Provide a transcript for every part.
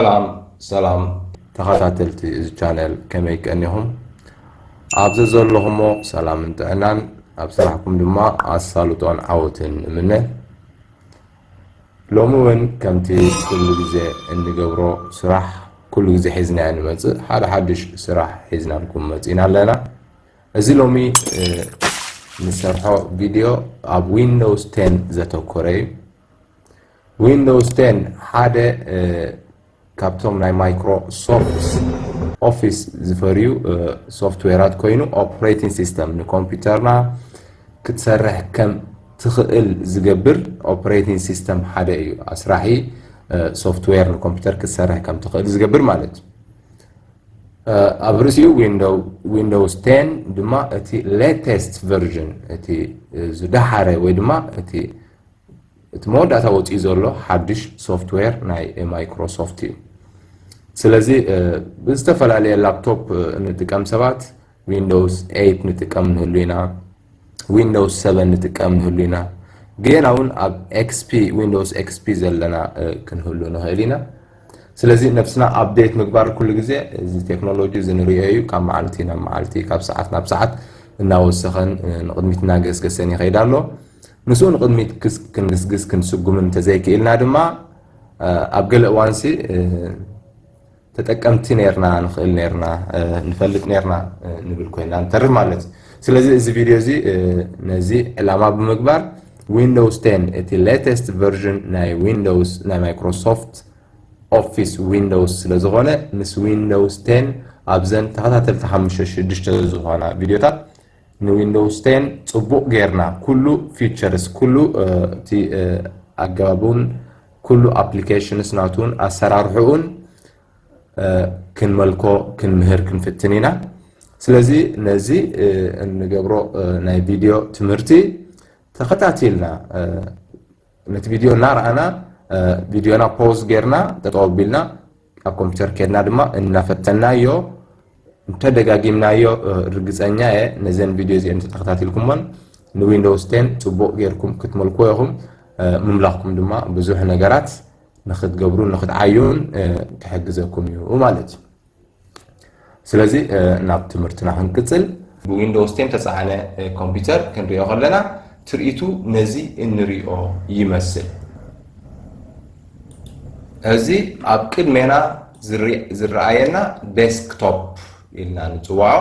ሰላም ሰላም ተኸታተልቲ እዚ ቻነል ከመይ ቀኒኹም ኣብ ዘዘለኹሞ ሰላምን ጥዕናን ኣብ ስራሕኩም ድማ ኣሳልጦን ዓወትን እምነ ሎሚ እውን ከምቲ ኩሉ ግዜ እንገብሮ ስራሕ ኩሉ ግዜ ሒዝናዮ ንመፅእ ሓደ ሓድሽ ስራሕ ሒዝናልኩም መፂና ኣለና እዚ ሎሚ ንሰርሖ ቪድዮ ኣብ ዊንዶውስ ቴን ዘተኮረ እዩ ዊንዶውስ ቴን ሓደ ካብቶም ናይ ማይክሮሶፍት ኦፊስ ዝፈርዩ ሶፍትዌራት ኮይኑ ኦፕሬቲንግ ሲስተም ንኮምፒውተርና ክትሰርሕ ከም ትኽእል ዝገብር ኦፕሬቲንግ ሲስተም ሓደ እዩ። ኣስራሒ ሶፍትዌር ንኮምፒውተር ክትሰርሕ ከም ትኽእል ዝገብር ማለት እዩ። ኣብ ርእሲኡ ዊንዶውስ ቴን ድማ እቲ ሌተስት ቨርዥን እቲ ዝደሓረ ወይ ድማ እቲ እቲ መወዳእታ ወጺኡ ዘሎ ሓድሽ ሶፍትዌር ናይ ማይክሮሶፍት እዩ። ስለዚ ብዝተፈላለየ ላፕቶፕ እንጥቀም ሰባት ዊንዶውስ ኤይት ንጥቀም ንህሉ ኢና፣ ዊንዶውስ ሰቨን ንጥቀም ንህሉ ኢና፣ ገና እውን ኣብ ኤክስፒ ዊንዶውስ ኤክስፒ ዘለና ክንህሉ ንኽእል ኢና። ስለዚ ነብስና ኣብዴት ምግባር ኩሉ ግዜ እዚ ቴክኖሎጂ እዚ ንሪኦ እዩ፣ ካብ መዓልቲ ናብ መዓልቲ ካብ ሰዓት ናብ ሰዓት እናወሰኸን ንቕድሚት እናገስገሰን ይኸይድ ኣሎ። ምስኡ ንቕድሚት ክንግስግስ ክንስጉም እንተዘይክኢልና ድማ ኣብ ገለ እዋንሲ ተጠቀምቲ ነርና ንኽእል ነርና ንፈልጥ ነርና ንብል ኮይና ንተርፍ ማለት እዩ ስለዚ እዚ ቪድዮ እዚ ነዚ ዕላማ ብምግባር ዊንዶውስ 10 እቲ ሌተስት ቨርዥን ናይ ዊንዶውስ ናይ ማይክሮሶፍት ኦፊስ ዊንዶውስ ስለ ዝኾነ ምስ ዊንዶውስ 10 ኣብዘን ተኸታተልቲ ሓሙሽተ ሽዱሽተ ዝኾና ቪድዮታት ንዊንዶውስ ቴን ጽቡቕ ጌርና ኩሉ ፊቸርስ ኩሉ እቲ ኣገባቡን ኩሉ ኣፕሊኬሽንስ ናቱን ኣሰራርሕኡን ክንመልኮ ክንምህር ክንፍትን ኢና ስለዚ ነዚ እንገብሮ ናይ ቪድዮ ትምህርቲ ተኸታቲልና ነቲ ቪድዮ እናረኣና ቪድዮና ፖዝ ጌርና ጠጠው ኣቢልና ኣብ ኮምፒተር ኬድና ድማ እናፈተናዮ እንተደጋጊምናዮ ርግፀኛ እየ ነዘን ቪድዮ እዚኤን ተተኸታቲልኩሞን ንዊንዶውስ ቴን ፅቡቕ ጌርኩም ክትመልክዎ ኢኹም ምምላኽኩም ድማ ብዙሕ ነገራት ንክትገብሩን ንክትዓዩን ክሕግዘኩም እዩ ማለት እዩ ስለዚ ናብ ትምህርትና ክንቅጽል። ብዊንዶውስ ቴን ተጻዕነ ኮምፒተር ክንሪኦ ከለና ትርኢቱ ነዚ እንሪኦ ይመስል። እዚ ኣብ ቅድሜና ዝረኣየና ዴስክቶፕ ኢልና ንጽውዖ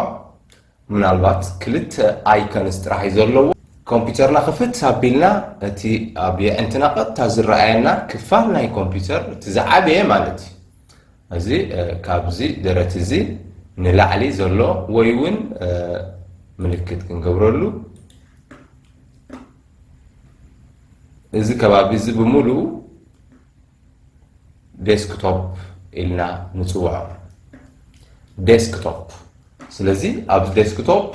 ምናልባት ክልተ ኣይከንስ ጥራሕ'ዩ ዘለዎ። ኮምፒተርና ክፍት ኣቢልና እቲ ኣብ የዕንትና ቀጥታ ዝረኣየና ክፋል ናይ ኮምፒተር እቲ ዝዓበየ ማለት'ዩ። እዚ ካብዚ ደረት እዚ ንላዕሊ ዘሎ ወይ እውን ምልክት ክንገብረሉ እዚ ከባቢ እዚ ብምሉኡ ዴስክቶፕ ኢልና ንፅውዖ ዴስክቶፕ ስለዚ ኣብ ዴስክቶፕ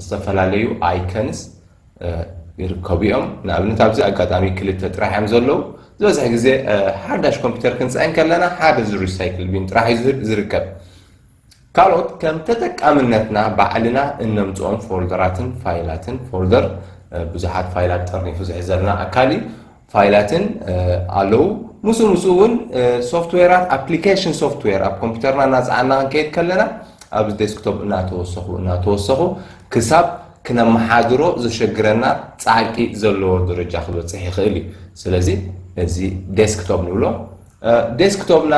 ዝተፈላለዩ ኣይከንስ ይርከቡ እዮም ንኣብነት ኣብዚ ኣጋጣሚ ክልተ ጥራሕ እዮም ዘለዉ ዝበዝሕ ግዜ ሓዳሽ ኮምፒውተር ክንፅዕን ከለና ሓደ እዚ ሪሳይክል ቢን ጥራሕ እዩ ዝርከብ ካልኦት ከም ተጠቃምነትና ባዕልና እነምፅኦም ፎልደራትን ፋይላትን ፎልደር ብዙሓት ፋይላት ጠርኒፉ ዝሕዘልና ኣካል እዩ ፋይላትን ኣለዉ። ምስኡ ምስኡ እውን ሶፍትዌራት፣ ኣፕሊኬሽን ሶፍትዌር ኣብ ኮምፒተርና እናፀዓንና ክንከይድ ከለና ኣብዚ ዴስክቶፕ እናተወሰኹ እናተወሰኹ ክሳብ ክነመሓድሮ ዘሸግረና ፃዕቂ ዘለዎ ደረጃ ክበፅሕ ይኽእል እዩ። ስለዚ እዚ ዴስክቶፕ ንብሎ። ዴስክቶፕና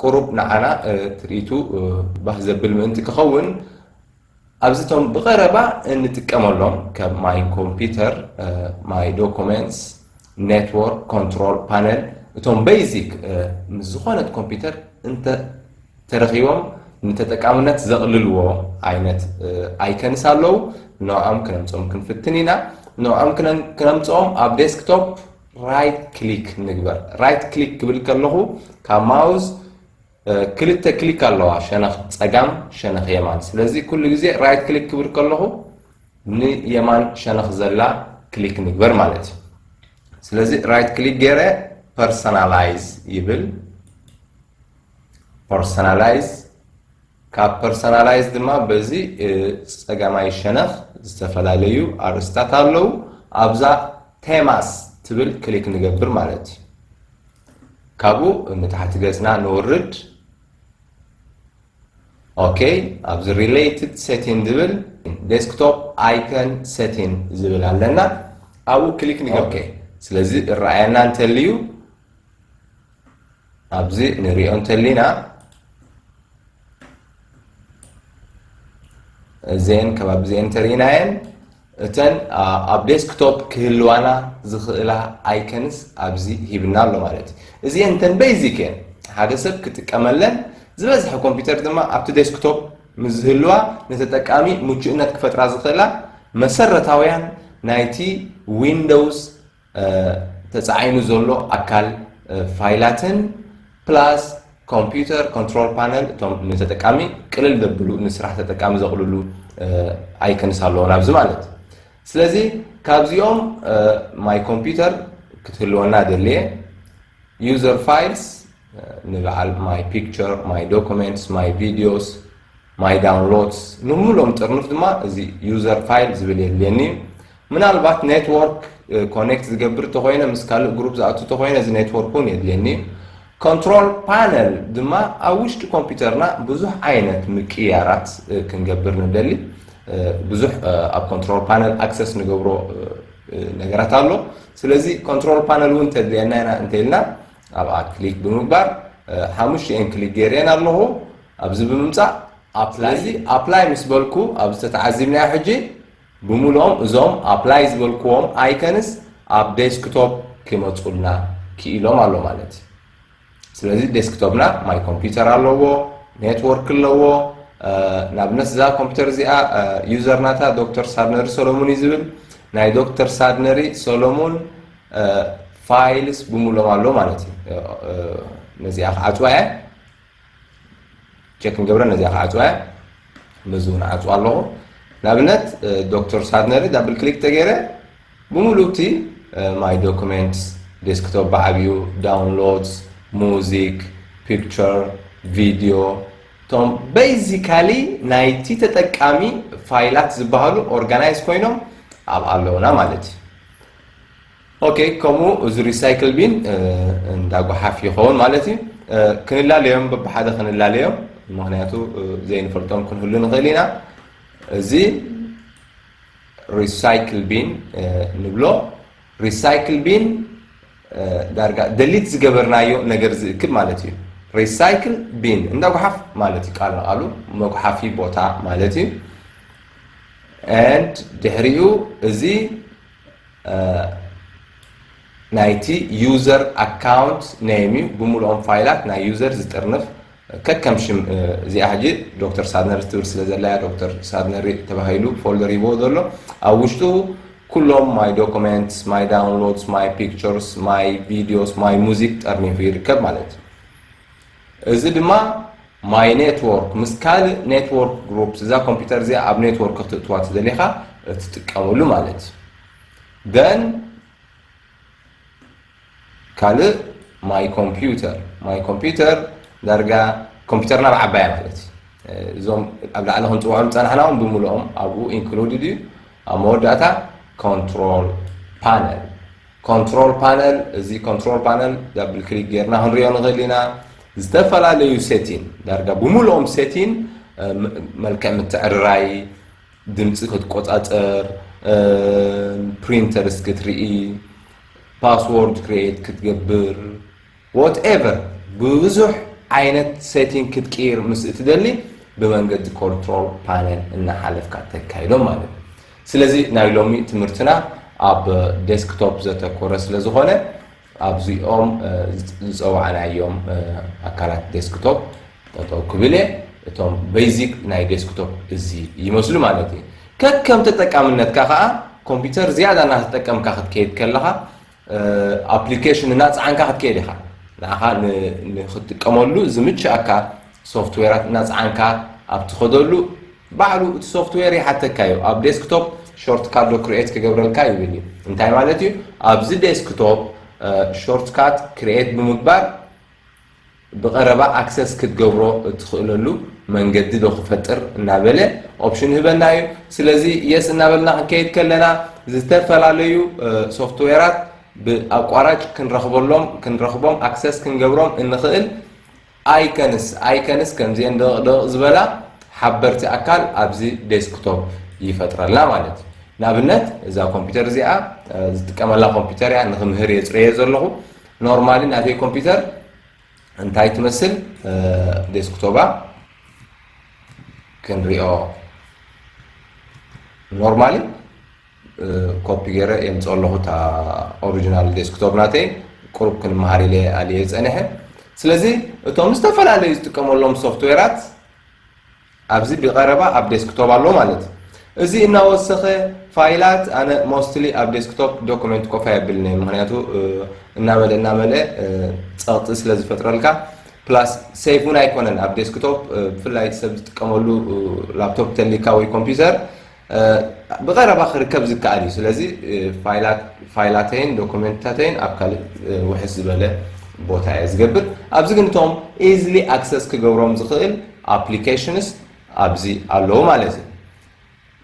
ቁሩብ ንዓና ትርኢቱ ባህ ዘብል ምእንቲ ክኸውን ኣብዚ እቶም ብቐረባ እንጥቀመሎም ከም ማይ ኮምፒተር፣ ማይ ዶኮመንትስ፣ ኔትዎርክ ኮንትሮል ፓነል እቶም በይዚክ ምስ ዝኾነት ኮምፒተር እንተ ተረኺቦም ንተጠቃምነት ዘቕልልዎ ዓይነት ኣይከንስ ኣለዉ። ንዕኦም ክነምፅኦም ክንፍትን ኢና። ንዕኦም ክነምፅኦም ኣብ ዴስክቶፕ ራይት ክሊክ ንግበር። ራይት ክሊክ ክብል ከለኹ ካብ ማውዝ ክልተ ክሊክ ኣለዋ ሸነኽ ጸጋም ሸነኽ የማን ስለዚ ኩሉ ግዜ ራይት ክሊክ ክብል ከለኹ ንየማን ሸነኽ ዘላ ክሊክ ንግበር ማለት እዩ ስለዚ ራይት ክሊክ ገይረ ፐርሰናላይዝ ይብል ፐርሰናላይዝ ካብ ፐርሰናላይዝ ድማ በዚ ፀጋማይ ሸነኽ ዝተፈላለዩ ኣርእስታት ኣለዉ ኣብዛ ቴማስ ትብል ክሊክ ንገብር ማለት እዩ ካብኡ ንታሕቲ ገጽና ንውርድ ኦኬ ኣብዚ ሪሌትድ ሴቲን ዝብል ዴስክቶፕ ኣይከን ሴቲን ዝብል ኣለና ኣብኡ ክሊክ ንገብር ስለዚ እረኣየና እንተልዩ ኣብዚ ንሪኦ እንተሊና እዘን ከባቢ እዚአን እንተርኢናየን እተን ኣብ ዴስክቶፕ ክህልዋና ዝኽእላ ኣይከንስ ኣብዚ ሂብና ኣሎ ማለት እዩ። እዚኤን እተን በይዚክ እየን ሓደ ሰብ ክጥቀመለን ዝበዝሐ ኮምፒተር ድማ ኣብቲ ዴስክቶፕ ምስ ዝህልዋ ንተጠቃሚ ምቹእነት ክፈጥራ ዝኽእላ መሰረታውያን ናይቲ ዊንዶውስ ተጻዒኑ ዘሎ ኣካል ፋይላትን ፕላስ ኮምፒተር ኮንትሮል ፓነል እቶም ንተጠቃሚ ቅልል ዘብሉ ንስራሕ ተጠቃሚ ዘቕልሉ ኣይከንስ ኣለዎ ናብዚ ማለት ስለዚ ካብዚኦም ማይ ኮምፒተር ክትህልወና ደልየ ዩዘር ፋይልስ ንበዓል ማይ ፒክቸር ማይ ዶኩመንትስ ማይ ቪዲዮስ My Downloads ንሙሉኦም ጥርኑፍ ድማ እዚ User File ዝብል የድልየኒ እዩ። ምናልባት Network Connect ዝገብር ተኾይነ ምስ ካልእ ግሩፕ ዝኣቱ ተኾይነ እዚ Network እውን የድልየኒ እዩ። Control Panel ድማ ኣብ ውሽጢ ኮምፒተርና ብዙሕ ዓይነት ምቅይያራት ክንገብር ንደሊ ብዙሕ ኣብ Control Panel Access ንገብሮ ነገራት ኣሎ። ስለዚ Control Panel እውን ተድልየና ኢና እንተኢልና ኣብኣ ክሊክ ብምግባር ሓሙሽቲኤን ክሊክ ገይረኤን ኣለኹ ኣብዚ ብምምፃእ ስለዚ ኣፕላይ ምስ በልኩ ኣብዚ ተተዓዚብናዮ ሕጂ ብምልኦም እዞም ኣፕላይ ዝበልክዎም ኣይከንስ ኣብ ዴስክቶፕ ክመፁልና ክኢሎም ኣሎ ማለት እዩ ስለዚ ዴስክቶፕና ማይ ኮምፒውተር ኣለዎ ኔትወርክ ኣለዎ ንኣብነት እዛ ኮምፒውተር እዚኣ ዩዘር ናታ ዶክተር ሳድነሪ ሰሎሙን እዩ ዝብል ናይ ዶክተር ሳድነሪ ሰሎሙን ፋይልስ ብምሎም ኣሎ ማለት እዩ ነዚኣ ክዓፅዋ እየ ቸክ ንገብረ ነዚኣ ክዓፅዋ እየ ነዚ እውን ዓፅዋ ኣለኹ ንኣብነት ዶክተር ሳድነሪ ዳብል ክሊክ ተገይረ ብምሉእ እቲ ማይ ዶክመንትስ ዴስክቶፕ ብዓብዩ ዳውንሎድስ ሙዚክ ፒክቸር ቪድዮ እቶም ቤዚካሊ ናይቲ ተጠቃሚ ፋይላት ዝበሃሉ ኦርጋናይዝ ኮይኖም ኣብ ኣለውና ማለት እዩ ኦኬ ከምኡ እዚ ሪሳይክል ቢን እንዳ ጓሓፍ ይኸውን ማለት እዩ ክንላለዮም በብሓደ ክንላለዮም ምክንያቱ ዘይንፈልጦም ክንህሉ ንኽእል ኢና እዚ ሪሳይክል ቢን ንብሎ ሪሳይክል ቢን ዳርጋ ደሊት ዝገበርናዮ ነገር ዝእክብ ማለት እዩ ሪሳይክል ቢን እንዳ ጉሓፍ ማለት እዩ ቃል ንቃሉ መጉሓፊ ቦታ ማለት እዩ ንድ ድሕሪኡ እዚ ናይቲ ዩዘር ኣካውንት ነይም እዩ ብምሉኦም ፋይላት ናይ ዩዘር ዝጥርንፍ ከከም ሽም እዚኣ ሕጂ ዶክተር ሳድነሪ ትብል ስለ ዘላያ ዶክተር ሳድነሪ ተባሂሉ ፎልደር ይቦ ዘሎ ኣብ ውሽጡ ኩሎም ማይ ዶክመንትስ ማይ ዳውንሎድስ ማይ ፒክቸርስ ማይ ቪዲዮስ ማይ ሙዚክ ጠርኒፉ ይርከብ ማለት እዩ እዚ ድማ ማይ ኔትዎርክ ምስ ካልእ ኔትዎርክ ግሩፕስ እዛ ኮምፒተር እዚኣ ኣብ ኔትዎርክ ክትእትዋ ትደሊኻ እትጥቀመሉ ማለት እዩ ደን ካልእ ማይ ኮምፒውተር ማይ ኮምፒውተር ዳርጋ ኮምፒውተርና ኣብ ዓባያ ማለት እዩ እዞም ኣብ ላዕሊ ክንፅውዖም ፀናሕና እውን ብምልኦም ኣብኡ ኢንክሉድድ እዩ ኣብ መወዳእታ ኮንትሮል ፓነል ኮንትሮል ፓነል እዚ ኮንትሮል ፓነል ዳብል ክሊክ ጌርና ክንሪኦ ንኽእል ኢና ዝተፈላለዩ ሴቲን ዳርጋ ብምሉኦም ሴቲን መልክዕ ምትዕርራይ ድምፂ ክትቆፃፀር ፕሪንተርስ ክትርኢ ፓስዎርድ ክሬት ክትገብር What ever ብብዙሕ ዓይነት setting ክትቅይር ምስ እትደሊ ብመንገዲ Control Panel እናሓለፍካ ተካይዶም ማለት እዩ። ስለዚ ናይ ሎሚ ትምህርትና ኣብ Desktop ዘተኮረ ስለዝኾነ ኣብዚኦም ዝፀዋዕናዮም ኣካላት Desktop ጠጠው ክብል እየ። እቶም Basic ናይ Desktop እዚ ይመስሉ ማለት እዩ። ከከም ተጠቃምነትካ ከዓ ኮምፒተር ዝያዳ እናተጠቀምካ ክትከይድ ከለኻ ኣፕሊኬሽን እናፀዓንካ ክትከይድ ኢኻ ንኣኻ ንክትጥቀመሉ ዝምችኣካ ሶፍትዌራት እናፀዓንካ ኣብ ትኸደሉ ባዕሉ እቲ ሶፍትዌር ይሓተካ እዩ ኣብ ዴስክቶፕ ሾርትካት ዶ ክርኤት ክገብረልካ ይብል እዩ እንታይ ማለት እዩ ኣብዚ ዴስክቶፕ ሾርትካት ክርኤት ብምግባር ብቐረባ ኣክሰስ ክትገብሮ እትኽእለሉ መንገዲ ዶ ክፈጥር እናበለ ኦፕሽን ይህበና እዩ። ስለዚ የስ እናበልና ክንከይድ ከለና ዝተፈላለዩ ሶፍትዌራት ብኣቋራጭ ክንረኽበሎም ክንረኽቦም ኣክሰስ ክንገብሮም እንኽእል ኣይከንስ ኣይከንስ ከምዚኤን ደቕቕ ደቕቕ ዝበላ ሓበርቲ ኣካል ኣብዚ ዴስክቶፕ ይፈጥረልና ማለት እዩ። ንኣብነት እዛ ኮምፒተር እዚኣ ዝጥቀመላ ኮምፒተር እያ ንክምህር እየ ፅረየ ዘለኹ ኖርማሊ ናተይ ኮምፒተር እንታይ ትመስል ዴስክቶባ ክንሪኦ ኖርማሊ ኮፒ ገይረ የምፅኦ ኣለኹ እታ ኦሪጂናል ዴስክቶፕ ናተይ ቁሩብ ክንመሃር ኢለ ኣልየ ፀኒሐ ስለዚ እቶም ዝተፈላለዩ ዝጥቀመሎም ሶፍትዌራት ኣብዚ ቢቀረባ ኣብ ዴስክቶፕ ኣሎ ማለት እዩ እዚ እናወሰኸ ፋይላት ኣነ ሞስትሊ ኣብ ዴስክቶፕ ዶኩመንት ኮፍ ኣየብልን እየ ምክንያቱ እናመልእ እናመልእ ፀቕጢ ስለ ዝፈጥረልካ ፕላስ ሴፍ እውን ኣይኮነን ኣብ ዴስክቶፕ ብፍላይ ሰብ ዝጥቀመሉ ላፕቶፕ ተሊካ ወይ ኮምፒውተር ብቐረባ ክርከብ ዝከኣል እዩ። ስለዚ ፋይላተይን ዶኩመንትታተይን ኣብ ካልእ ውሕስ ዝበለ ቦታ እየ ዝገብር። ኣብዚ ግን እቶም ኢዝሊ ኣክሰስ ክገብሮም ዝኽእል ኣፕሊኬሽንስ ኣብዚ ኣለዉ ማለት እዩ።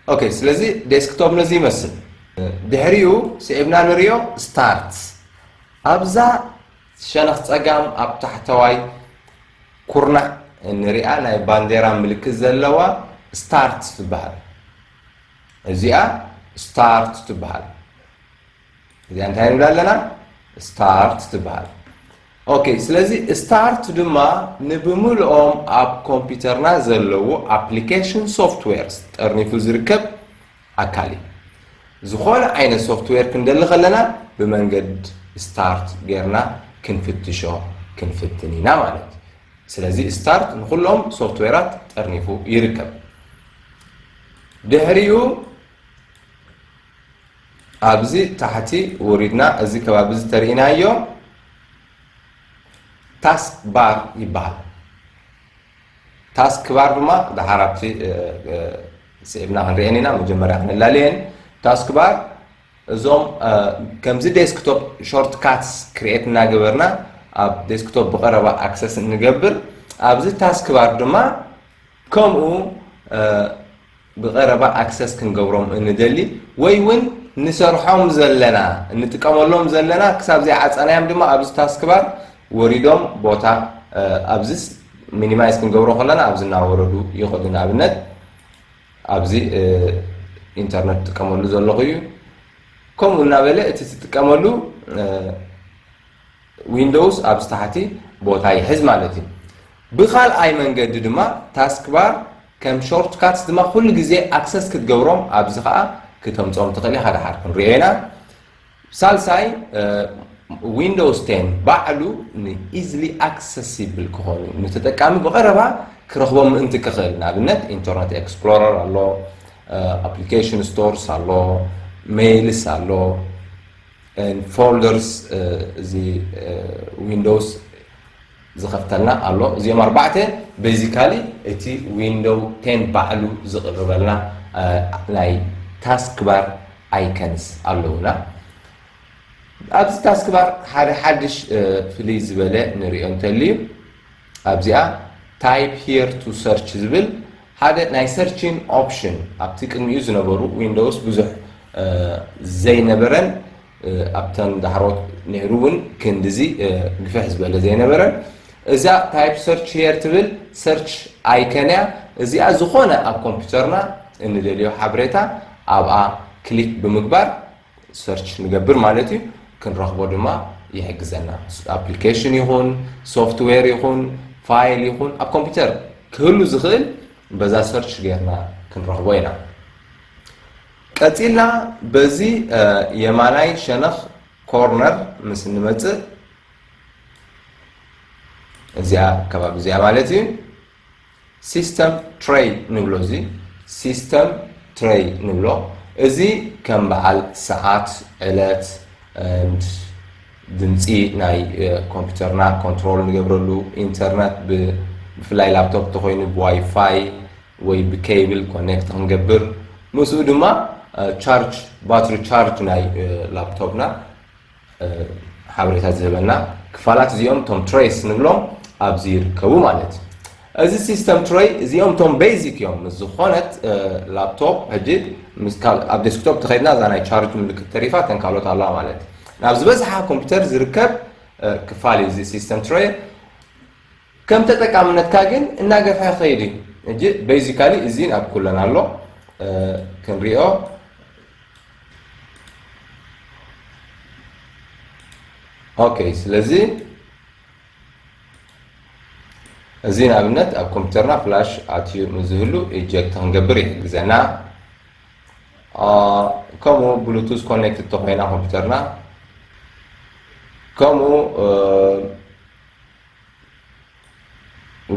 ኦኬ ስለዚ ዴስክቶፕ ነዚ ይመስል። ድሕሪኡ ስዒብና ንሪኦ ስታርት ኣብዛ ሸነኽ ጸጋም ኣብ ታሕተዋይ ኩርናዕ እንሪኣ ናይ ባንዴራ ምልክት ዘለዋ ስታርት ትበሃል። እዚኣ ስታርት ትበሃል። እዚኣ እንታይ ንብላ ኣለና? ስታርት ትበሃል። ኦኬ ስለዚ ስታርት ድማ ንብምልኦም ኣብ ኮምፒውተርና ዘለዉ ኣፕሊኬሽን ሶፍትዌርስ ጠርኒፉ ዝርከብ ኣካል እዩ። ዝኾነ ዓይነት ሶፍትዌር ክንደሊ ከለና ብመንገድ start ጌርና ክንፍትሾ ክንፍትን ኢና ማለት እዩ። ስለዚ start ንኹሎም ሶፍትዌራት ጠርኒፉ ይርከብ። ድሕሪኡ ኣብዚ ታሕቲ ወሪድና እዚ ከባቢ እዚ ተርእናዮ ታስክ ባር ይበሃል። ታስክ ባር ድማ ደሓር ኣብቲ ስዒብና ክንሪኤን ኢና መጀመርያ ክንላለየን ታስክ ባር እዞም ከምዚ ዴስክቶፕ ሾርት ካትስ ክሪኤት እናገበርና ኣብ ዴስክቶፕ ብቐረባ ኣክሰስ እንገብር ኣብዚ ታስክ ባር ድማ ከምኡ ብቐረባ ኣክሰስ ክንገብሮም እንደሊ ወይ እውን ንሰርሖም ዘለና እንጥቀመሎም ዘለና ክሳብ ዘይዓፀናዮም ድማ ኣብዚ ታስክባር ወሪዶም ቦታ ኣብዚስ ሚኒማይዝ ክንገብሮ ከለና ኣብዚ እናወረዱ ይኸዱ ንኣብነት ኣብዚ ኢንተርነት ትጥቀመሉ ዘለኹ እዩ ከምኡ እናበለ እቲ ትጥቀመሉ ዊንዶውስ ኣብዚ ታሕቲ ቦታ ይሕዝ ማለት እዩ ብካልኣይ መንገዲ ድማ ታስክባር ከም ሾርት ካትስ ድማ ኩሉ ግዜ ኣክሰስ ክትገብሮም ኣብዚ ከዓ ክተምፆም ትኽእል ኢኻ ደሓር ክንሪኦ ኢና ሳልሳይ ዊንዶውስ ቴን ባዕሉ ን ኢዝሊ ኣክሰሲብል ክኾኑ ንተጠቃሚ ብቐረባ ክረኽቦም ምእንቲ ክኽእል ንኣብነት ኢንተርነት ኤክስፕሎረር ኣሎ ኣፕሊኬሽን ስቶርስ ኣሎ ሜይልስ ኣሎ ፎልደርስ እዚ ዊንዶውስ ዝኸፍተልና ኣሎ እዚኦም ኣርባዕተ በዚ ካሊእ እቲ ዊንዶው ቴን ባዕሉ ዝቕርበልና ናይ ታስክ ባር ኣይከንስ ኣለውና ኣብዚ ታስክ ባር ሓደ ሓድሽ ፍልይ ዝበለ ንሪኦ እንተልዩ ኣብዚኣ ታይፕ ሂር ቱ ሰርች ዝብል ሓደ ናይ ሰርችን ኦፕሽን ኣብቲ ቅድሚኡ ዝነበሩ ዊንዶውስ ብዙሕ ዘይነበረን ኣብተን ዳሕሮት ነይሩ እውን ክንድዚ ግፍሕ ዝበለ ዘይነበረን። እዛ ታይፕ ሰርች ሄር ትብል ሰርች ኣይከን እያ። እዚኣ ዝኾነ ኣብ ኮምፒውተርና እንደልዮ ሓበሬታ ኣብኣ ክሊክ ብምግባር ሰርች ንገብር ማለት እዩ። ክንረኽቦ ድማ ይሕግዘና። ኣፕሊኬሽን ይኹን ሶፍትዌር ይኹን ፋይል ይኹን ኣብ ኮምፒውተር ክህሉ ዝኽእል በዛ ሰርች ጌርና ክንረኽቦ ኢና። ቀጺልና በዚ የማናይ ሸነኽ ኮርነር ምስ እንመጽእ እዚኣ ከባቢ እዚኣ ማለት እዩ ሲስተም ትሬይ ንብሎ እዚ ሲስተም ትሬይ ንብሎ እዚ ከም በዓል ሰዓት ዕለት ድምፂ ናይ ኮምፒውተርና ኮንትሮል ንገብረሉ ኢንተርነት ብፍላይ ላፕቶፕ ተኮይኑ ብዋይፋይ ወይ ብኬብል ኮኔክት ክንገብር ምስኡ ድማ ቻርጅ ባትሪ ቻርጅ ናይ ላፕቶፕና ሓበሬታ ዝህበና ክፋላት እዚኦም ቶም ትሬስ ንብሎም ኣብዚ ይርከቡ ማለት እዩ እዚ ሲስተም ትሬይ እዚኦም ቶም ቤዚክ እዮም ምስ ዝኾነት ላፕቶፕ ሕጂ ኣብ ዴስክቶፕ ተኸድና እዛ ናይ ቻርጅ ምልክት ተሪፋ ተን ካልኦት ኣለዋ ማለት ናብ ዝበዝሓ ኮምፒውተር ዝርከብ ክፋል እዩ እዚ ሲስተም ትሬይ ከም ተጠቃምነትካ ግን እናገፍሐ ክኸይድ እዩ። ሕጂ basically እዚን ኣብ ኩለን ኣሎ ክንሪኦ ኦኬ ስለዚ እዚ ንኣብነት ኣብ ኮምፒውተርና ፍላሽ ኣትዩ ንዝህሉ ኢጀክት ክንገብር ይሕግዘና ከምኡ ብሉቱዝ ኮኔክት ተኮይና ኮምፒውተርና ከምኡ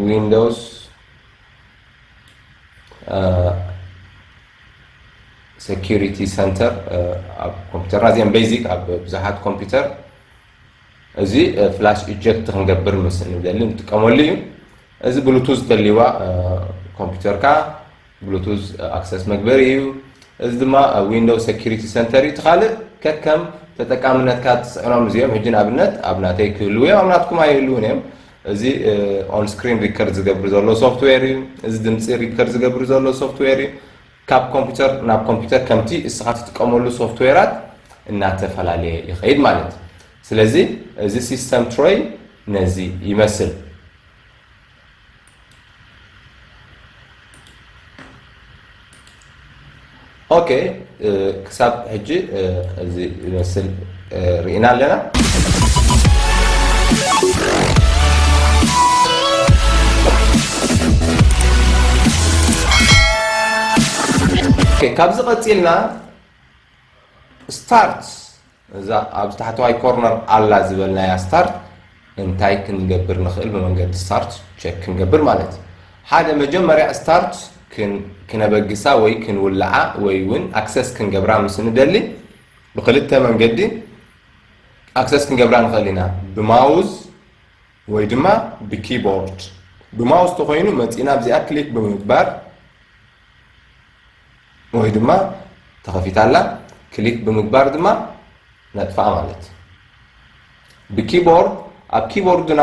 ዊንዶውስ ሴኪሪቲ ሰንተር ኣብ ኮምፒተር ኣዚኦም ቤዚክ ኣብ ብዙሓት ኮምፒተር እዚ ፍላሽ ኢጀክት ክንገብር ምስ ንደሊ ንጥቀመሉ እዩ እዚ ብሉቱዝ ተልዋ ኮምፒተርካ ብሉቱዝ ኣክሰስ መግበሪ እዩ። እዚ ድማ ዊንዶው ሰኩሪቲ ሰንተር እዩ። እቲ ካልእ ከከም ተጠቃምነትካ ትፅዕኖም እዚኦም ሕጂ ንኣብነት ኣብ ናተይ ክህልው እዮም ኣብ ናትኩም ኣይህልውን እዮም። እዚ ኦን ስክሪን ሪከርድ ዝገብር ዘሎ ሶፍትዌር እዩ። እዚ ድምፂ ሪከርድ ዝገብር ዘሎ ሶፍትዌር እዩ። ካብ ኮምፒውተር ናብ ኮምፒውተር ከምቲ እስኻ ትጥቀመሉ ሶፍትዌራት እናተፈላለየ ይኸይድ ማለት እዩ። ስለዚ እዚ ሲስተም ትሮይ ነዚ ይመስል። ኦኬ ክሳብ ሕጂ እዚ ይመስል ርኢና ኣለና ካብዚ ቀፂልና ስታርት እዛ ኣብ ታሕተዋይ ኮርነር ኣላ ዝበልናያ ስታርት እንታይ ክንገብር ንኽእል ብመንገዲ ስታርት ቸክ ክንገብር ማለት እዩ ሓደ መጀመርያ ስታርት ክነበግሳ ወይ ክንውልዓ ወይ እውን ኣክሰስ ክንገብራ ምስ ንደሊ ብክልተ መንገዲ ኣክሰስ ክንገብራ ንኽእል ኢና ብማውዝ ወይ ድማ ብኪቦርድ ብማውስ ተኾይኑ መፂእና ኣብዚኣ ክሊክ ብምግባር ወይ ድማ ተኸፊታ ኣላ ክሊክ ብምግባር ድማ ነጥፋኣ ማለት እዩ ብኪቦርድ ኣብ ኪቦርድና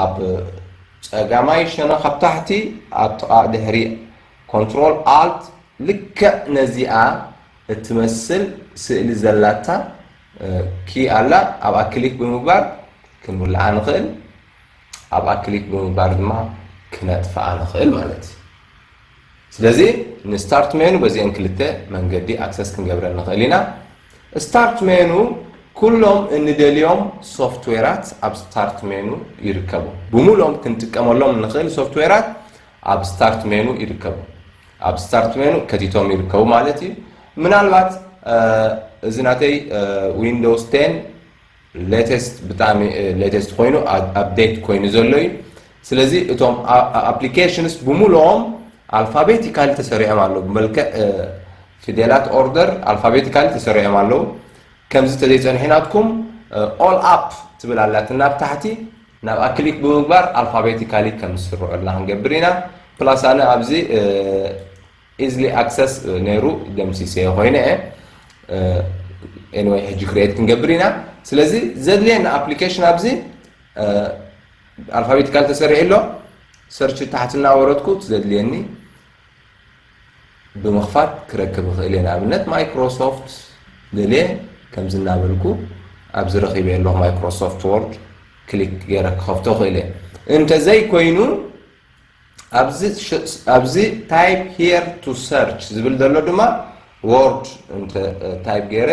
ኣብ ፀጋማይ ሸነኽ ኣብ ታሕቲ ኣብ ጥቓ ድሕሪ ኮንትሮል ኣልት ልክዕ ነዚኣ እትመስል ስእሊ ዘላታ ኪ ኣላ ኣብኣ ክሊክ ብምግባር ክንውልዓ ንኽእል ኣብኣ ክሊክ ብምግባር ድማ ክነጥፍኣ ንኽእል ማለት እዩ ስለዚ ንስታርት ሜኑ በዚኦም ክልተ መንገዲ ኣክሰስ ክንገብረ ንኽእል ኢና ስታርት ሜኑ ኩሎም እንደልዮም ሶፍትዌራት ኣብ ስታርት ሜኑ ይርከቡ ብሙሉኦም ክንጥቀመሎም ንኽእል ሶፍትዌራት ኣብ ስታርት ሜኑ ይርከቡ። ኣብ ስታርት ሜኑ ከቲቶም ይርከቡ ማለት እዩ። ምናልባት እዚ ናተይ ዊንዶውስ 10 ሌተስት ብጣዕሚ ሌተስት ኮይኑ ኣፕዴት ኮይኑ ዘሎ እዩ። ስለዚ እቶም ኣፕሊኬሽንስ ብምሉኦም ኣልፋቤቲካሊ ተሰሪዖም ኣለዉ ብመልክዕ ፊደላት ኦርደር ኣልፋቤቲካሊ ተሰሪዖም ኣለዉ ከምዚ ተዘይፀንሒናትኩም ኦል ኣፕ ትብል ኣላትና ኣብ ታሕቲ ናብኣ ክሊክ ብምግባር ኣልፋቤቲካሊ ከም ዝስርዑልና ክንገብር ኢና። ፕላስ ኣነ ኣብዚ ኢዝሊ ኣክሰስ ነይሩ ደምሲሰዮ ኮይነ እየ። ኤኒወይ ሕጂ ክሪኤት ክንገብር ኢና። ስለዚ ዘድልየና ኣፕሊኬሽን ኣብዚ ኣልፋቤቲካሊ ተሰሪዑ ኣሎ። ሰርች ታሕቲ እናወረድኩ እቲ ዘድልየኒ ብምኽፋት ክረክብ እኽእል እየ ንኣብነት ማይክሮሶፍት ደልየ ከምዚ እናበልኩ ኣብዚ ረኺበ ኣለኹ ማይክሮሶፍት ወርድ ክሊክ ገይረ ክኸፍቶ እኽእል እየ እንተዘይኮይኑ ኣብዚ ታይፕ ሄር ቱ ሰርች ዝብል ዘሎ ድማ ወርድ እንተ ታይፕ ገይረ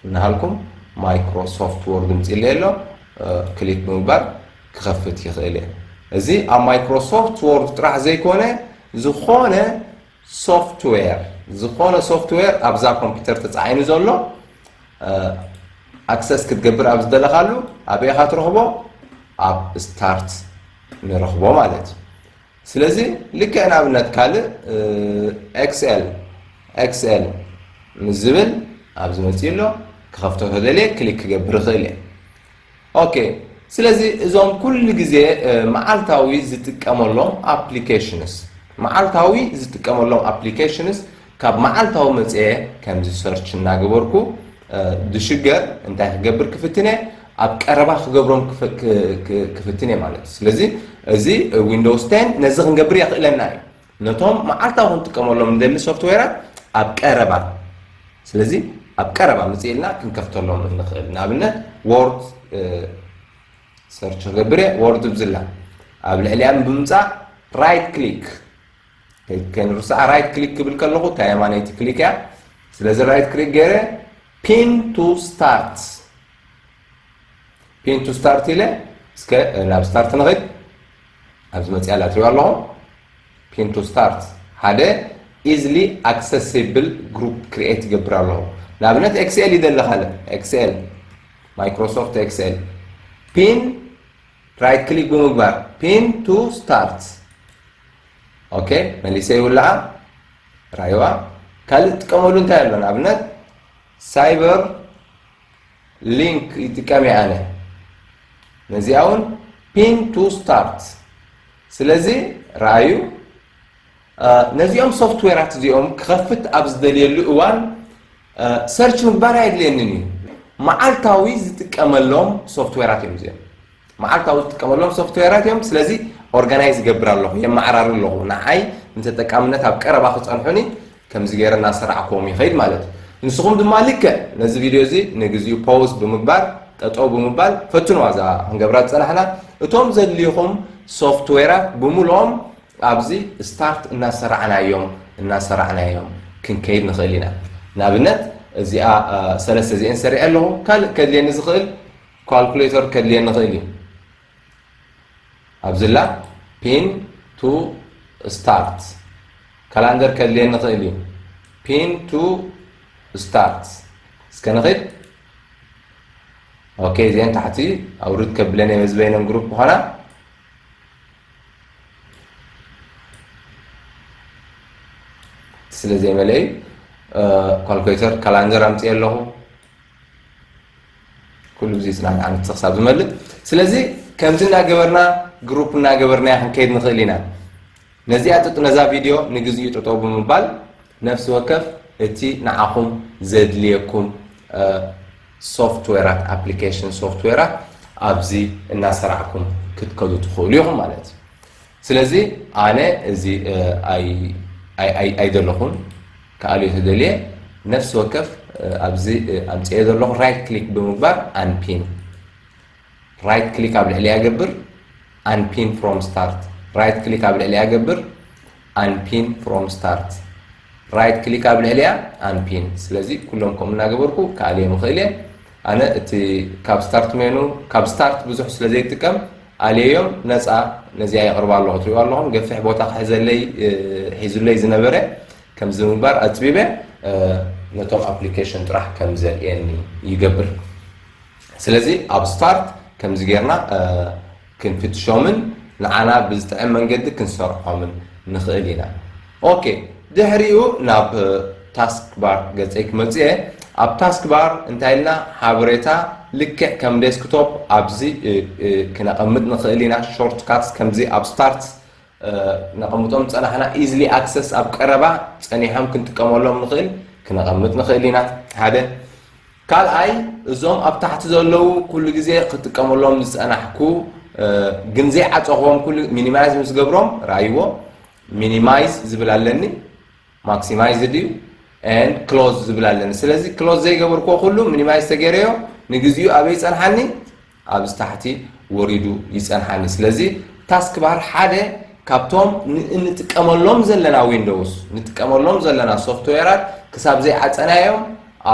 እናሃልኩም ማይክሮ ሶፍት ወርድ ምፅለየ ኣሎ ክሊክ ብምግባር ክኸፍት ይኽእል እየ እዚ ኣብ ማይክሮ ሶፍት ወርድ ጥራሕ ዘይኮነ ዝኾነ ሶፍትዌር ዝኾነ ሶፍትዌር ኣብዛ ኮምፒውተር ተፃዒኑ ዘሎ ኣክሰስ ክትገብር ኣብ ዝደለኻሉ ኣበይ ኢኻ ትረኽቦ ኣብ ስታርት ንረኽቦ ማለት እዩ ስለዚ ልክዕ ንኣብነት ካልእ XL XL ምስ ዝብል ኣብዚ መፅኡ ኣሎ ክኸፍቶ ተደልየ ክሊክ ክገብር ይኽእል እየ ኦኬ ስለዚ እዞም ኩሉ ግዜ መዓልታዊ ዝጥቀመሎም ኣፕሊኬሽንስ መዓልታዊ ዝጥቀመሎም ኣፕሊኬሽንስ ካብ መዓልታዊ መጽየ ከምዚ ሰርች እናገበርኩ ድሽገር እንታይ ክገብር ክፍትን እየ ኣብ ቀረባ ክገብሮም ክፍትን እየ ማለት እዩ ስለዚ እዚ ዊንዶውስ ቴን ነዚ ክንገብር የኽእለና እዩ ነቶም መዓልታዊ ክንጥቀመሎም ንደሊ ሶፍትዌራት ኣብ ቀረባ ስለዚ ኣብ ቀረባ ምጽእ ኢልና ክንከፍተሎም እንኽእል ንኣብነት ዎርድ ሰርች ክገብር እየ ዎርድ ብዝላ ኣብ ልዕሊያ ብምምጻእ ራይት ክሊክ ከይንርስዓ ራይት ክሊክ ክብል ከለኹ እታ የማነይቲ ክሊክ እያ ስለዚ ራይት ክሊክ ገይረ ፒን ቱ ስታርት ፒን ቱ ስታርት ኢለ እስከ ናብ ስታርት ንኽድ ኣብዚ መፅኣ ላትሪዋ ኣለኹ ፒን ቱ ስታርት ሓደ ኢዝሊ ኣክሰሲብል ግሩፕ ክሪኤት ይገብር ኣለኹ ንኣብነት ኤክስኤል ይደሊ ካልእ ኤክስኤል ማይክሮሶፍት ኤክስኤል ፒን ራይት ክሊክ ብምግባር ፒን ቱ ስታርት ኦኬ መሊሰ ይውልዓ ራይዋ ካልእ ትጥቀመሉ እንታይ ኣሎ ንኣብነት ሳይበር ሊንክ ይጥቀም እየ ኣነ ነዚኣ እውን ፒን ቱ ስታርት ስለዚ ረኣዩ ነዚኦም ሶፍትዌራት እዚኦም ክኸፍት ኣብ ዝደልየሉ እዋን ሰርች ምግባር ኣየድልየንን እዩ። መዓልታዊ ዝጥቀመሎም ሶፍትዌራት እዮም እዚኦም። መዓልታዊ ዝጥቀመሎም ሶፍትዌራት እዮም። ስለዚ ኦርጋናይዝ ይገብር ኣለኹ፣ የመዓራሪ ኣለኹ። ንዓይ ንተጠቃምነት ኣብ ቀረባ ክጸንሑኒ ከምዚ ገይረ እናሰራዕክዎም ይኸይድ ማለት እዩ። ንስኹም ድማ ልክዕ ነዚ ቪድዮ እዚ ንግዚኡ ፖውዝ ብምግባር ጠጠው ብምባል ፈትኑዋ እዛ ክንገብራ ዝጸናሕና እቶም ዘድልዩኹም ሶፍትዌራት ብምልኦም ኣብዚ ስታርት እናሰራዕናዮም እናሰራዕናዮም ክንከይድ ንኽእል ኢና። ንኣብነት እዚኣ ሰለስተ እዚኤን ሰሪዐ ኣለኹ። ካልእ ከድልየኒ ዝኽእል ኳልኩሌተር ከድልየኒ ይኽእል እዩ። ኣብዚላ ፒን ቱ ስታርት ካላንደር ከድልየኒ ይኽእል እዩ። ፒን ቱ ስታርት እስከ ንኽድ ኦኬ እዚኤን ታሕቲ ኣውርድ ከብለኒ መዝበይነን ግሩፕ ምዃና ስለ ዘይመለኢ ካልኩሌተር ካላንደር ኣምፅኦ ኣለኹ ኩሉ ግዜ ፅናት ዓመት ክሳብ ዝመልእ ስለዚ ከምዚ እናገበርና ግሩፕ እናገበርና ክንከይድ ንኽእል ኢና ነዚኣ ጥጥ ነዛ ቪድዮ ንግዚኡ ጠጠው ብምባል ነፍሲ ወከፍ እቲ ንዓኹም ዘድልየኩም ሶፍትዌራት ኣፕሊኬሽን ሶፍትዌራት ኣብዚ እናሰራዕኩም ክትከዱ ትኽእሉ ኢኹም ማለት እዩ ስለዚ ኣነ እዚ ኣይደለኹን ክኣልዮ ተደልየ ነፍሲ ወከፍ ኣብዚ ኣምፅኤ ዘለኹ ራይት ክሊክ ብምግባር ኣንፒን ራይት ክሊክ ኣብ ልዕሊኣ ገብር ኣንፒን ፍሮም ስታርት ራይት ክሊክ ኣብ ልዕሊኣ ገብር ኣንፒን ፍሮም ስታርት ራይት ክሊክ ኣብ ልዕሊኣ ኣንፒን ስለዚ ኩሎም ከምኡ እናገበርኩ ክኣልዮም ይኽእል እየ ኣነ እቲ ካብ ስታርት ሜኑ ካብ ስታርት ብዙሕ ስለ ዘይጥቀም ኣልየዮም ነፃ ነዚኣ የቕርባ ኣለኹ ትሪእዋ ኣለኹም ገፊሕ ቦታ ክሕዘለይ ሒዙለይ ዝነበረ ከምዚ ምግባር ኣፅቢበ ነቶም ኣፕሊኬሽን ጥራሕ ከም ዘርእየኒ ይገብር ስለዚ ኣብ ስታርት ከምዚ ጌርና ክንፍትሾምን ንዓና ብዝጥዕም መንገዲ ክንሰርዖምን ንኽእል ኢና። ኦኬ ድሕሪኡ ናብ ታስክ ባር ገጸይ ክመጽእ እየ። ኣብ ታስክ ባር እንታይ ኢልና ሓበሬታ ልክዕ ከም ዴስክቶፕ ኣብዚ ክነቐምጥ ንኽእል ኢና። ሾርት ካትስ ከምዚ ኣብ ስታርት ነቐምጦም ዝጸናሕና ኢዝሊ ኣክሰስ ኣብ ቀረባ ጸኒሖም ክንጥቀመሎም ንኽእል ክነቐምጥ ንኽእል ኢና ሓደ ካልኣይ እዞም ኣብ ታሕቲ ዘለዉ ኩሉ ግዜ ክጥቀመሎም ዝጸናሕኩ ግን ዘይዓጸኹዎም ኩሉ ሚኒማይዝ ምስ ገብሮም ርኣይዎ ሚኒማይዝ ዝብል ኣለኒ ማክሲማይዝ ድዩ and ክሎዝ ዝብል ኣለኒ ስለዚ ክሎዝ ዘይገበርክዎ ኩሉ ሚኒማይዝ ተገይረዮ ንግዚኡ ኣበይ ይፀንሓኒ ኣብዚ ታሕቲ ወሪዱ ይፀንሓኒ ስለዚ ታስክ ባር ሓደ ካብቶም እንጥቀመሎም ዘለና ዊንዶውስ ንጥቀመሎም ዘለና ሶፍትዌራት ክሳብ ዘይዓፀናዮም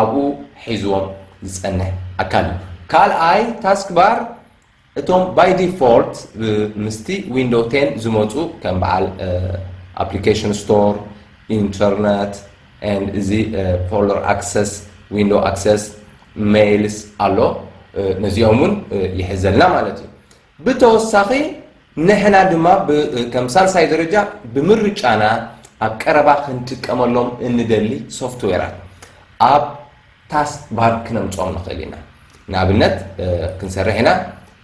ኣብኡ ሒዝዎም ዝፀንሕ ኣካል እዩ ካልኣይ ታስክ ባር እቶም ባይ ዲፎልት ምስቲ ዊንዶው ቴን ዝመፁ ከም በዓል ኣፕሊኬሽን ስቶር፣ ኢንተርነት፣ and እዚ ፎልደር ኣክሰስ፣ ዊንዶው ኣክሰስ፣ ሜይልስ ኣሎ ነዚኦም እውን ይሕዘልና ማለት እዩ። ብተወሳኺ ንሕና ድማ ከም ሳልሳይ ደረጃ ብምርጫና ኣብ ቀረባ ክንጥቀመሎም እንደሊ ሶፍትዌራት ኣብ ታስክ ባር ክነምጽኦም ንኽእል ኢና ንኣብነት ክንሰርሕ ኢና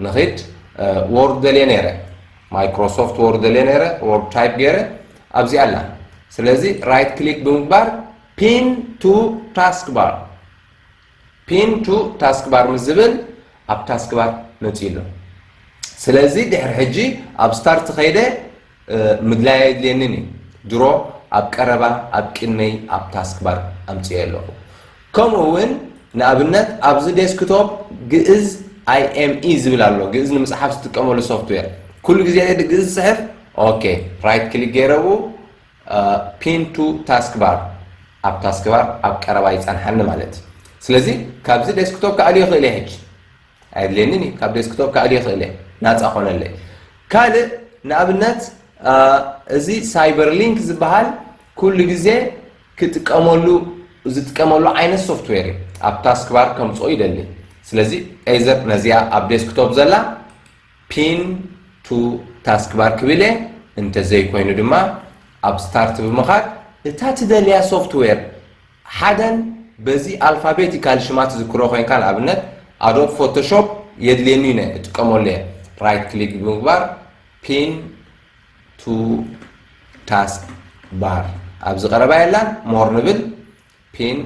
ንኺድ ዎርድ ደልየ ነይረ ማይክሮሶፍት ዎርድ ደልየ ነይረ ዎርድ ታይፕ ገይረ ኣብዚኣ ኣላ ስለዚ ራይት ክሊክ ብምግባር ፒን ቱ ታስክ ባር ፒን ቱ ታስክ ባር ምስ ዝብል ኣብ ታስክ ባር መፅኡ ኣሎ ስለዚ ድሕሪ ሕጂ ኣብ ስታርት ኸይደ ምግላይ ኣየድልየንን እዩ ድሮ ኣብ ቀረባ ኣብ ቅድመይ ኣብ ታስክባር ኣምጺኤ ኣለኹ። ከምኡ እውን ንኣብነት ኣብዚ ዴስክቶፕ ግእዝ IME ዝብል ኣሎ ግእዝ ንምጽሓፍ ዝጥቀመሉ ሶፍትዌር ኩሉ ግዜ ድየ ግእዝ ዝጽሕፍ ኦኬ ራይት ክሊክ ገይረ ኣብኡ ፒን ቱ ታስክባር ኣብ ታስክባር ኣብ ቀረባ ይጸንሓኒ ማለት እዩ ስለዚ ካብዚ ዴስክቶፕ ክኣልዮ ይኽእል እየ ሕጂ ኣየድልየንን እዩ ካብ ዴስክቶፕ ከዕሊ ይኽእል እየ ናፃ ኮነለይ ካልእ ንኣብነት እዚ ሳይበር ሊንክ ዝበሃል ኩሉ ግዜ ክጥቀመሉ ዝጥቀመሉ ዓይነት ሶፍትዌር እዩ ኣብ ታስክ ባር ከምፅኦ ይደሊ ስለዚ ኤዘር ነዚኣ ኣብ ዴስክቶፕ ዘላ ፒን ቱ ታስክ ባር ክብል እየ እንተዘይኮይኑ ድማ ኣብ ስታርት ብምኻድ እታ ትደልያ ሶፍትዌር ሓደን በዚ ኣልፋቤቲካሊ ሽማ ትዝክሮ ኮይንካ ንኣብነት ኣዶብ ፎቶሾፕ የድልየኒ እዩ ናይ እጥቀመሉ እየ ራይት ክሊክ ብምግባር ፒን ቱ ታስክ ባር ኣብዚ ቀረባ የላን ሞር ንብል ፒን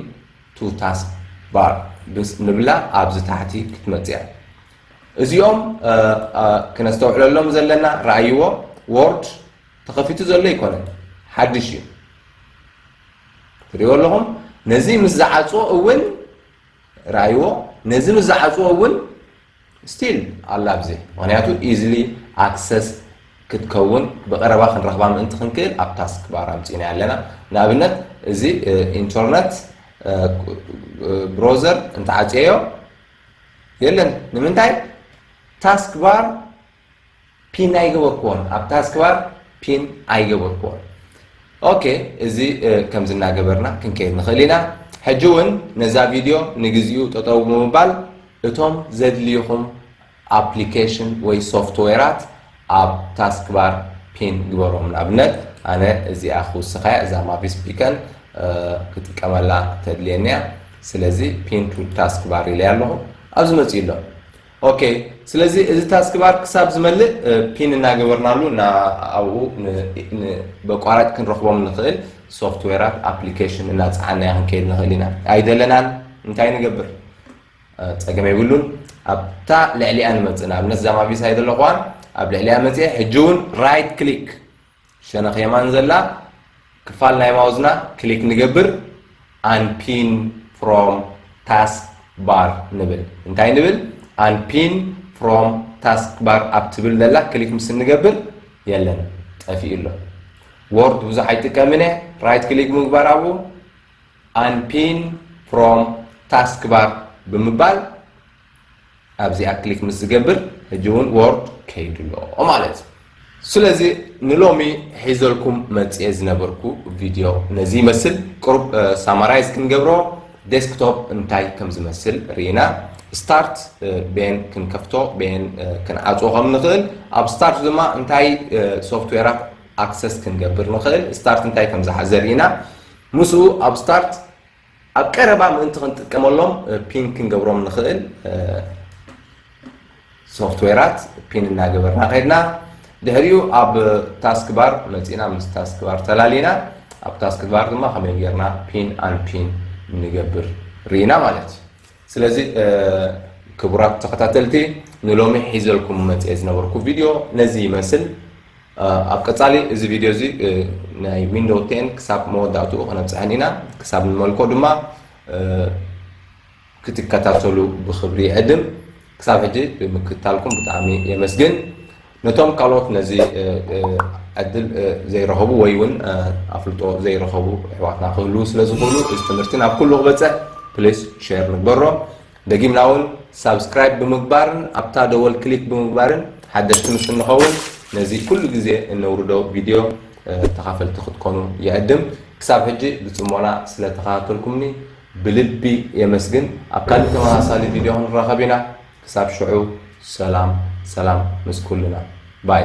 ቱ ታስክ ባር ብስ ንብላ ኣብዚ ታሕቲ ክትመጽእ እያ እዚኦም ክነስተውዕለሎም ዘለና ረኣይዎ ወርድ ተኸፊቱ ዘሎ ኣይኮነን ሓድሽ እዩ ትሪእዎ ኣለኹም ነዚ ምስ ዝዓፅዎ እውን ረኣይዎ ነዚ ምስ ዝዓፅዎ እውን ስቲል ኣላ ኣብዚ ምክንያቱ ኢዝሊ ኣክሰስ ክትከውን ብቀረባ ክንረኽባ ምእንቲ ክንክእል ኣብ ታስክ ባር ኣምፂእና ኣለና ንኣብነት እዚ ኢንተርነት ብሮዘር እንተዓፅየዮ የለን ንምንታይ ታስክ ባር ፒን ኣይገበርክዎን ኣብ ታስክባር ፒን ኣይገበርክዎን ኦኬ እዚ ከምዚ እናገበርና ክንከይድ ንኽእል ኢና ሕጂ እውን ነዛ ቪድዮ ንግዚኡ ጠጠው ብምባል እቶም ዘድልዩኹም ኣፕሊኬሽን ወይ ሶፍትዌራት ኣብ ታስክባር ፒን ግበሮም ንኣብነት ኣነ እዚኣ ክውስኻያ እዛ ማቪስ ቢከን ክጥቀመላ ተድልየኒያ ስለዚ ፒን ቱ ታስክባር ኢለያ ኣለኹ ኣብዚ መፅኡ ኣሎ ኦኬ ስለዚ እዚ ታስክ ባር ክሳብ ዝመልእ ፒን እናገበርናሉ እና ኣብኡ ብኣቋራጭ ክንረኽቦም ንኽእል ሶፍትዌራት ኣፕሊኬሽን እናፀዓናያ ክንከይድ ንኽእል ኢና ኣይደለናን እንታይ ንገብር ፀገም የብሉን ኣብታ ልዕሊኣ ንመፅእ ንኣብነት እዛ ማቪሳይ ዘለኹዋ ኣብ ልዕሊኣ መፅአ ሕጂ እውን ራይት ክሊክ ሸነኽ የማን ዘላ ክፋል ናይ ማውዝና ክሊክ ንገብር ኣንፒን ፍሮም ታስክ ባር ንብል እንታይ ንብል ኣንፒን ፍሮም ታስክ ባር ኣብ ትብል ዘላ ክሊክ ምስ እንገብር የለን ጠፊኡ ኣሎ ወርድ ብዙሕ ኣይጥቀምን እየ ራይት ክሊክ ምግባር ኣብኡ ኣንፒን ፍሮም ታስክ ባር ብምባል ኣብዚኣ ክሊክ ምስ ዝገብር ሕጂ እውን ዎርድ ከይዱ ኣሎ ማለት እዩ። ስለዚ ንሎሚ ሒዘልኩም መጽየ ዝነበርኩ ቪድዮ ነዚ ይመስል። ቅሩብ ሳማራይዝ ክንገብሮ ዴስክቶፕ እንታይ ከም ዝመስል ርኢና ስታርት በየን ክንከፍቶ በየን ክንዓጽዎ ከም ንኽእል ኣብ ስታርት ድማ እንታይ ሶፍትዌራት ኣክሰስ ክንገብር ንኽእል ስታርት እንታይ ከም ዝሓዘ ርኢና ምስኡ ኣብ ስታርት ኣብ ቀረባ ምእንቲ ክንጥቀመሎም ፒን ክንገብሮም ንኽእል ሶፍትዌራት ፒን እናገበርና ከድና ድሕሪኡ ኣብ ታስክ ባር መፂእና ምስ ታስክ ባር ተላሊና ኣብ ታስክ ባር ድማ ከመይ ጌርና ፒን ኣን ፒን ንገብር ርኢና ማለት እዩ ስለዚ ክቡራት ተኸታተልቲ ንሎሚ ሒዘልኩም መጽኤ ዝነበርኩ ቪድዮ ነዚ ይመስል ኣብ ቀጻሊ እዚ ቪድዮ እዚ ናይ ዊንዶው ቴን ክሳብ መወዳእትኡ ክነብጽሐን ኢና ክሳብ ንመልኮ ድማ ክትከታተሉ ብክብሪ ይዕድም ክሳብ ሕጂ ብምክትታልኩም ብጣዕሚ የመስግን። ነቶም ካልኦት ነዚ ዕድል ዘይረኸቡ ወይ ውን ኣፍልጦ ዘይረኸቡ ኣሕዋትና ክህልዉ ስለ ዝኽእሉ እዚ ትምህርቲ ናብ ኩሉ ክበጽሕ ፕሊስ ሼር ንግበሮ። ደጊምና ውን ሳብስክራይብ ብምግባርን ኣብታ ደወል ክሊክ ብምግባርን ሓደሽቲ ምስ እንኸውን ነዚ ኩሉ ግዜ እነውርዶ ቪድዮ ተኻፈልቲ ክትኮኑ ይዕድም። ክሳብ ሕጂ ብጽሞና ስለ ተኸታተልኩምኒ ብልቢ የመስግን ኣብ ካሊእ ተመሳሳሊ ቪድዮ ክንራኸብ ኢና ክሳብ ሽዑ ሰላም ሰላም ምስ ኩልና ባይ።